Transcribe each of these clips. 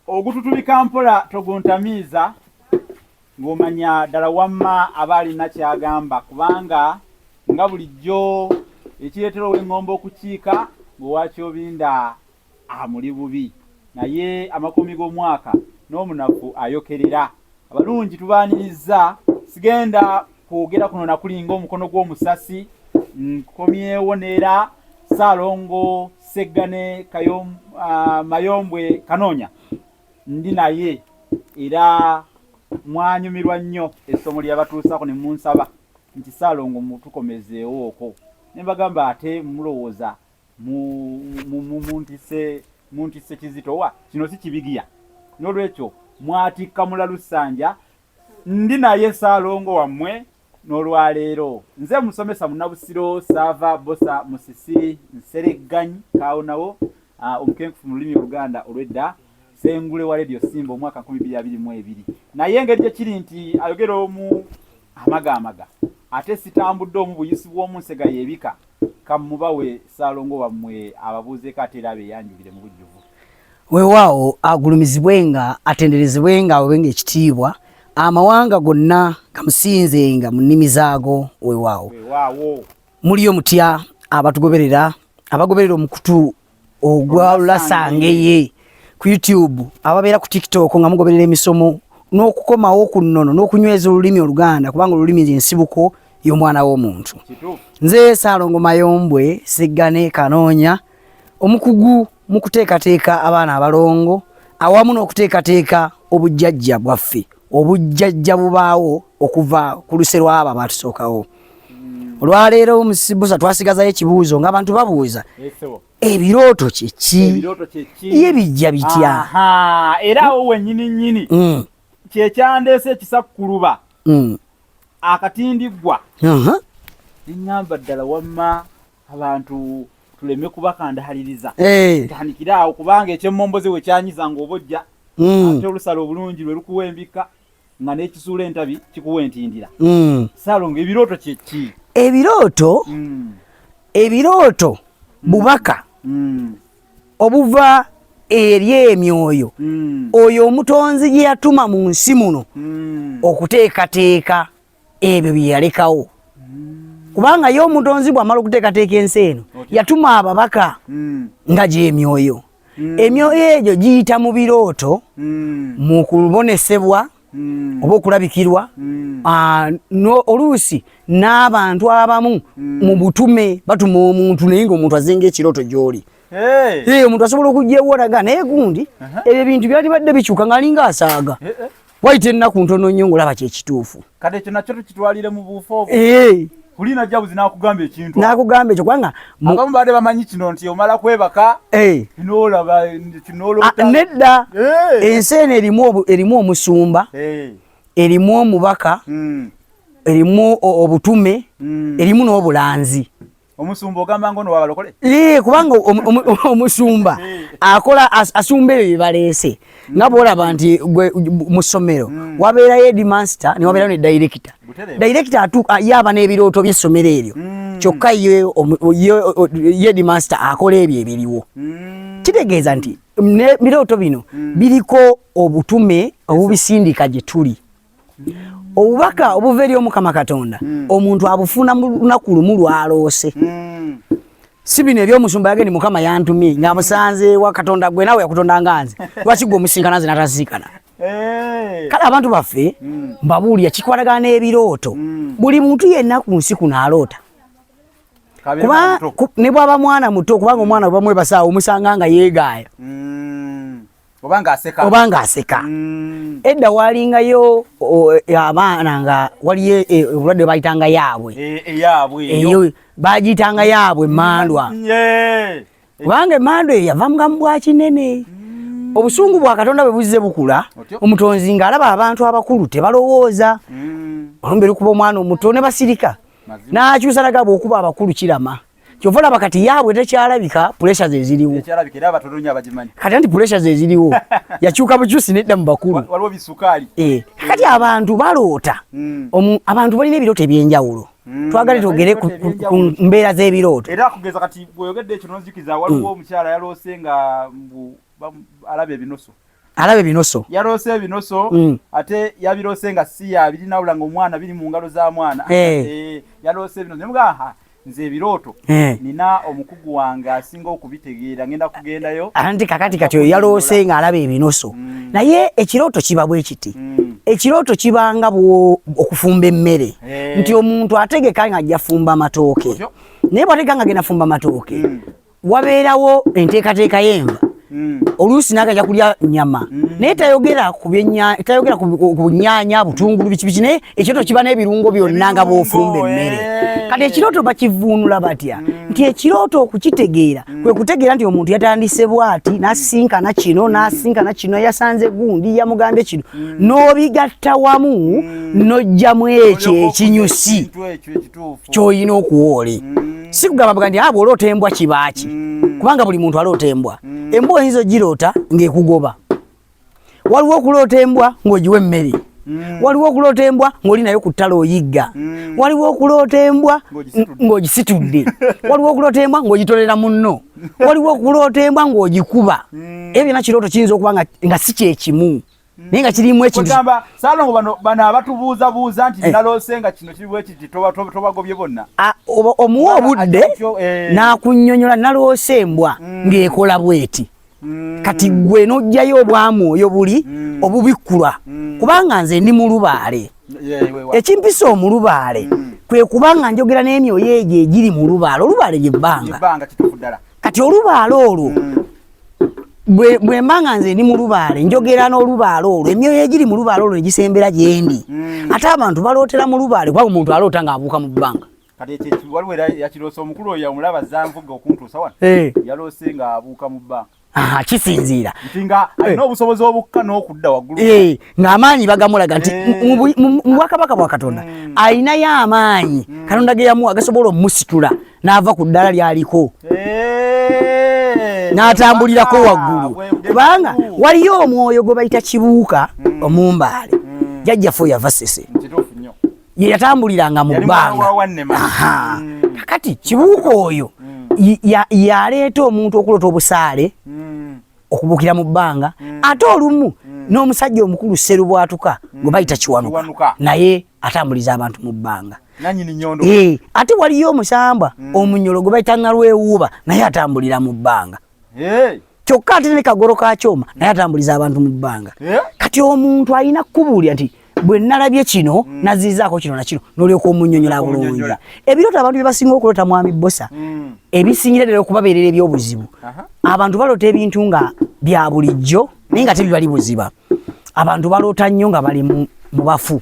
ogututubika mpola toguntamiiza ng'omanya ddala wamma aba alina ky'agamba kubanga nga bulijjo ekireetera ow'eŋŋombo okukiika ng'owakyobinda amuli bubi naye amakumi g'omwaka n'omunafu ayokerera abalungi tubaanirizza sigenda kwogera kuno nakulinga omukono gw'omusasi nkomyewo neera saalongo seggane ah, mayombwe kanoonya ndi naye era mwanyumirwa nnyo essomo lyeyabatuusako ne munsaba nti saalongo mutukomezeewo oko ne mbagamba ate mulowooza muntise kizitowa kino si kibigiya n'olwekyo mwatikka mulalusanja Ndi naye Ssaalongo wammwe n'olwaleero. Nze musomesa Munabusiro Saava Bosa Musisi Nseregganyi Kaawonawo ah, omukenkufu mu lulimi Oluganda olw'edda Ssengule wa leediyo Simba omwaka nkumi bbiri abiri mu ebiri. Naye engeri gye kiri nti ayogera omu amagaamaga ate sitambudde omu buyisi bw'omu nsega y'ebika, ka mmubawe Ssaalongo wammwe ababuuzeeko ate era abeeyanjulire mu bujjuvu. Weewaawo agulumizibwenga, atenderezebwenga, aweebwenga ekitiibwa, amawanga gonna gamusinzenga mu nnimi zaago. Weewaawo muliyo mutya abatugoberera abagoberera omukutu ogwalulasangaeye ku YouTube ababeera ku TikTok nga mugoberera emisomo n'okukomawo ku nnono n'okunyweza olulimi Oluganda kubanga olulimi y'ensibuko y'omwana w'omuntu. Nze Saalongo Mayombwe Seggane Kanoonya omukugu mu kuteekateeka abaana abalongo awamu n'okuteekateeka obujjajja bwaffe obujjajja bubaawo okuva ku luse lwabo abatusookawo olwaleero musibusa twasigazayo ekibuuzo ngaabantu babuuza ebirooto kyeki ye bijja bitya era awo wenyini nyini mm. kyekyandeese ekisakkuluba mm. akatindiggwa eŋamba ddala wamma abantu tuleme kubakandahaliriza eh. tandikire awo kubanga ekyemmomboze we kyanyiza ng'obojja hmm. ate olusala obulungi lwe lukuwa embikka nga n'ekisuula entabi kikuwa entindira hmm. salongo ebirooto kyeki ebirooto hmm. ebirooto bubaka obuva eri emyoyo oyo omutonzi gye yatuma mu nsi muno okuteekateeka ebyo bye yalekawo kubanga ye omutonzi bw'amala okuteekateeka ensi eno yatuma ababaka hmm. nga gy'emyoyo hmm. emyoyo egyo giyita mu birooto hmm. mu kubonesebwa oba okulabikirwa ah, oluusi n'abantu abamu mu butume batuma omuntu naye ng'omuntu azinga ekirooto gy'oli omuntu asobola okugyeworaga naye gundi ebyo ebintu byalibadde bikyuka ng'alinga asaaga eh, eh. wayita ennaku ntono nnyo ng'olaba kyekituufu kati ekyo nakyo tukitwalire mu buufu obwo eh. kulina jabuzi nakugamba ekintu nakugamba ekyo kubanga abamu baade bamanyi kino nti omala kwebaka eh. nolaba kinolota ah, nedda eh. ensi eno erimu omusumba erimu omubaka hmm. erimu obutume hmm. erimu n'obulanzi Omusumba ogamba ngono wa balokole? Ee, kubanga omusumba akola asumba ebyo byebalese mm. nga bwolaba nti mu ssomero mm. wabeerayo edmaster ne wabeerayo ne mm. director. Director atu yaba n'ebirooto by'essomero eryo kyokka ye edmaster akola ebyo ebiriwo. Kitegeeza nti ebirooto bino biriko obutume obubisindika gye tuli. obubaka obuva eri omukama katonda hmm. omuntu abufuna mu lunaku lumu lwaloose hmm. si bino ebyomusumba yageni mukama yantumye nga musanze wa katonda gwe nawe yakutonda nga nze lwaki gwe omusinkana nze natasinkana eh. kale abantu baffe hmm. mbabuulira kikwatagana n'ebirooto buli muntu yenna ku nsi kuno aloota kuba ne bwaba mwana muto kubanga omwana bwebamwebasaawo omusanga nga yeegaaya obanga aseka obanga aseka mm. edda walingayo abaana nga waliyo e, obulwadde bayitanga yaabwe eyabwe e, eyo bagiyitanga yaabwe emandwa kubanga emandwa eyo yava mugamu bwa kinene mm. obusungu bwa katonda bwe buzze bukula omutonzi nga alaba abantu abakulu tebalowooza mm. olumbe lukuba omwana omuto ne basirika n'akyusa nagaba okuba abakulu kirama kyova olaba kati yaabwe tekyalabika pulesa ze ziriwo kati anti pulesa ze ziriwo yakyuka bukyusi nedda mu bakulu eh, kati abantu baloota hmm. abantu balina ebirooto ebyenjawulo hmm. twagale togere ku mbeera z'ebirooto era kugeza kati bweyogeddekyo nonzikiza waliwo hmm. omukyala yaloose nga alaba ebinusu alaba ebinoso yaloose ebinoso mm. ate yabiroose nga si yabiri nawula nga omwana biri mu ngalo za mwana hey. Eh. hey, eh, yaloose ebinoso nemugaha nze ebirooto hey. Eh. nina omukugu wange asinga okubitegeera ngenda kugendayo anti kakati kati oyo yaloose nga alaba ebinoso mm. naye ekirooto kiba bwe kiti mm. ekirooto kibanga okufumba emmere hey. nti omuntu ategeka nga ajja fumba matooke naye bwategeka nga genda fumba matooke mm. wabeerawo enteekateeka y'enva hmm. oluusi nagaja kulya nyama hmm. naye tayogera tayogera ku nyanya butungulu biki biki naye ekyoto kiba n'ebirungo byonna nga bwofumba emmere eh. kati ekirooto bakivuunula batya hmm. nti ekirooto okukitegeera kwe kutegeera nti omuntu yatandise bwati nasinkana kino nasinkana kino yasanze gundi yamugambye kino n'obigatta wamu n'ojjamu ekyo ekinyusi kyoyina okuwa oli mm. sikugamba bugandi abo ah, oloota embwa kibaaki mm. kubanga buli muntu aloota embwa mm. embwa oyinza ogiroota ng'ekugoba waliwo okuloota embwa ng'ogiwa emmere Mm. waliwo okuloota embwa ng'oli nayo ku ttala oyigga mm. waliwo okuloota embwa ng'ogisitudde waliwo okuloota embwa ng'ogitolera munno waliwo okuloota embwa ng'ogikuba mm. ebyo byona kirooto kiyinza okuba nga si kyekimu Mm. naye nga kirimu ekigamba salongo bano bano abatubuuza buuza nti eh. naloose nga kino kiriwo ekiti tobagobye bonna ah, omuwa obudde eh. n'akunyonyola naloose embwa mm. ng'ekola bweti mm. kati gwe n'ojjayo obwamwoyo buli obubikkulwa kubanga nze ndi mulubaale ekimpisa omulubaale kwe kubanga njogera n'emyoyo egyo egiri mulubaale olubaale lyebbanga kati olubaale olwo bwe mba nga nze ndi mu lubaale njogera n'olubaale olwo emyoyo egiri mu lubaale olwo egisembera gyendi hmm. ate abantu balootera mu lubaale kuba omuntu aloota ng'abuuka mu bbanga waliwo era yakiroosa omukulu oyo omulaba zanvuga okuntuusa wano eh. yaloose ng'abuuka mu bbanga kisinziira nti nga alina eh. obusobozi obukka n'okudda waggulu eh. ng'amaanyi bagamulaga nti eh. mu bwakabaka bwa katonda hmm. alinayo amaanyi hmm. katonda ge yamuwa gasobola omusitula n'ava ku ddala lyaliko eh. n'atambulirako waggulu kubanga waliyo omwoyo gwe bayita kibuuka hmm. omumbaale jajjaffe oyo yava sese ye yatambuliranga mu bbanga kakati kibuuka oyo yaleeta omuntu okulota obusaale okubukira mu bbanga mm. ate olumu mm. n'omusajja omukulu seru bwatuka mm. gwe bayita kiwanuka naye atambuliza abantu mu bbanga eh, ate waliyo omusamba mm. omunyolo gwe bayita nalwewuuba naye atambulira mu bbanga hey. kyokka ate ne kagoro ka kyoma naye atambuliza abantu mu bbanga hey. Eh? kati omuntu alina kukubuulira nti bwe nalabye kino mm. nazizaako kino nakino nolyoka omunyonyola bulungi ebirooto abantu byebasinga okulota mwami bosa mm. ebisingira ddala okubabeerera ebyobuzibu abantu balota ebintu nga bya bulijjo naye nga tebibali buziba abantu baloota nnyo nga bali mu bafu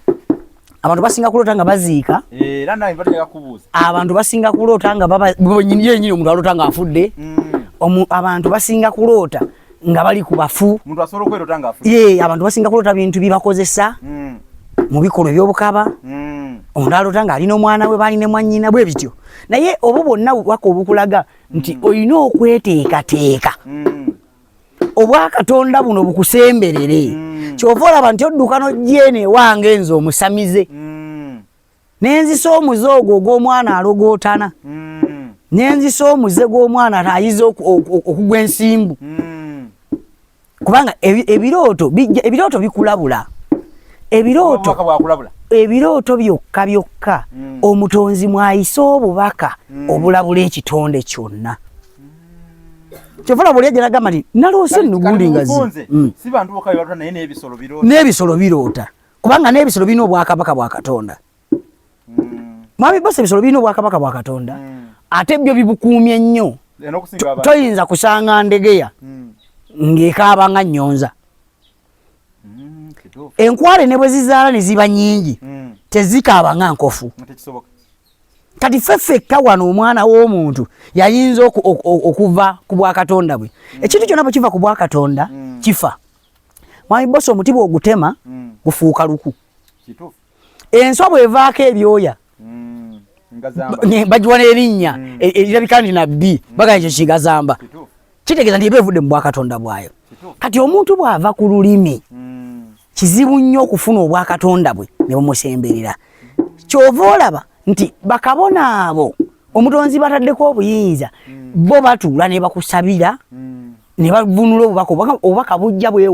abantu basinga kulota nga baziika eh, abantu basinga kulota nga baba yenyini omuntu alota nga afudde mm. abantu basinga kulota nga bali ku bafu omuntu asobola okwerota nga afu ye abantu basinga kulota bintu bibakozesa mm. mu bikolwa ebyobukaba mm. omuntu alota nga alina omwana we baali ne mwannyina bwe bityo naye obwo bwonna bubaka obukulaga nti mm. olina okweteekateeka mm. obwakatonda buno bukusemberere mm. kyova olaba nti odduka nojjeene ewange nze omusamize mm. nenzisa omuze ogwo ogw'omwana alogootana mm. nenzisa omuze gw'omwana ayiza okugwa ensimbu mm. kubanga ebirooto ebirooto bikulabula ebirooto ebirooto byokka byokka mm. omutonzi mwayise obubaka obulabula ekitonde kyonna kyefula buli ejja nagamba nti naloose nnugundi ngazi n'ebisolo biroota kubanga n'ebisolo birina obwakabaka bwa katonda mm. mwami bose ebisolo birina obwakabaka bwa katonda mm. ate byo bibukuumye nnyo toyinza kusanga ndegeya mm. ng'ekaaba nga nnyonza mm, enkwale ne bwe zizaala ne ziba nnyingi mm. tezikaaba nga nkofu kati ffe ffekka wano omwana w'omuntu yayinza okuva ku bwakatonda bwe mm. ekintu kyonna bwe kiva ku bwakatonda mm. kifa Mwami bosi omuti bw'ogutema mm. gufuuka luku. Kituufu. Enswa bw'evaako ebyoya mm. bagiwa n'erinnya mm. e, erirabika nti nabbi mm. bagala ekyo kigazamba. Kitegeeza nti eba evudde mu bwakatonda bwayo. Kati omuntu bw'ava ku lulimi mm. kizibu nnyo okufuna obwakatonda bwe ne bumusemberera. Ky'ova olaba nti bakabona abo omutonzi bataddeko obuyinza mm. bo batuula ne bakusabira mm. ne bavunula obubaka obubaka bujja bwewo.